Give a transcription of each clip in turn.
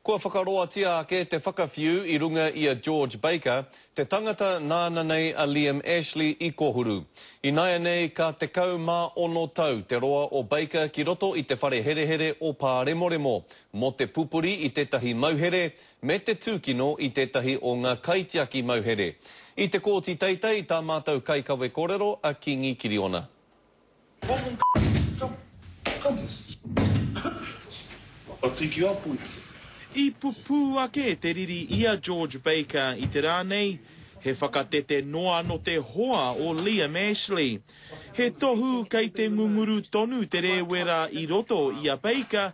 Kua whakaroatia ake te whakawhiu i runga i a George Baker, te tangata nāna nei a Liam Ashley i kohuru. Ināianei ka 16 tau te roa o Baker ki roto i te whare herehere o Pāremoremo, mō te pupuri i tētahi mauhere me te tūkino i tētahi o ngā kaitiaki mauhere. I te kōti teitei tā mātou kaikawe korero a Kīngi Kiriona. I pupū ake te riri i a George Baker i te rā nei, he whakatete noa nō te hoa o Liam Ashley. He tohu kei te ngunguru tonu te rēwera i roto i a Baker,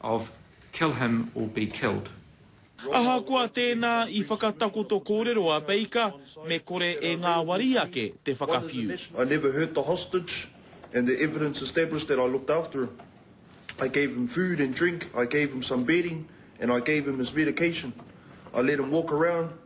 of kill him or be killed. Ahakoa tēnā i whakatakoto kōrero a Baker, me kore e ngāwari ake te whakawhiu. I never hurt the hostage and the evidence established that I looked after him. I gave him food and drink, I gave him some bedding and I gave him his medication. I let him walk around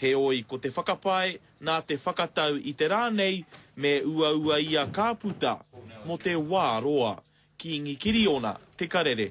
Heoi, ko te whakapae nā te whakatau i te rā nei me uaua i a Kāputa mō te wā roa, Kīngi Kiriona Te Karere.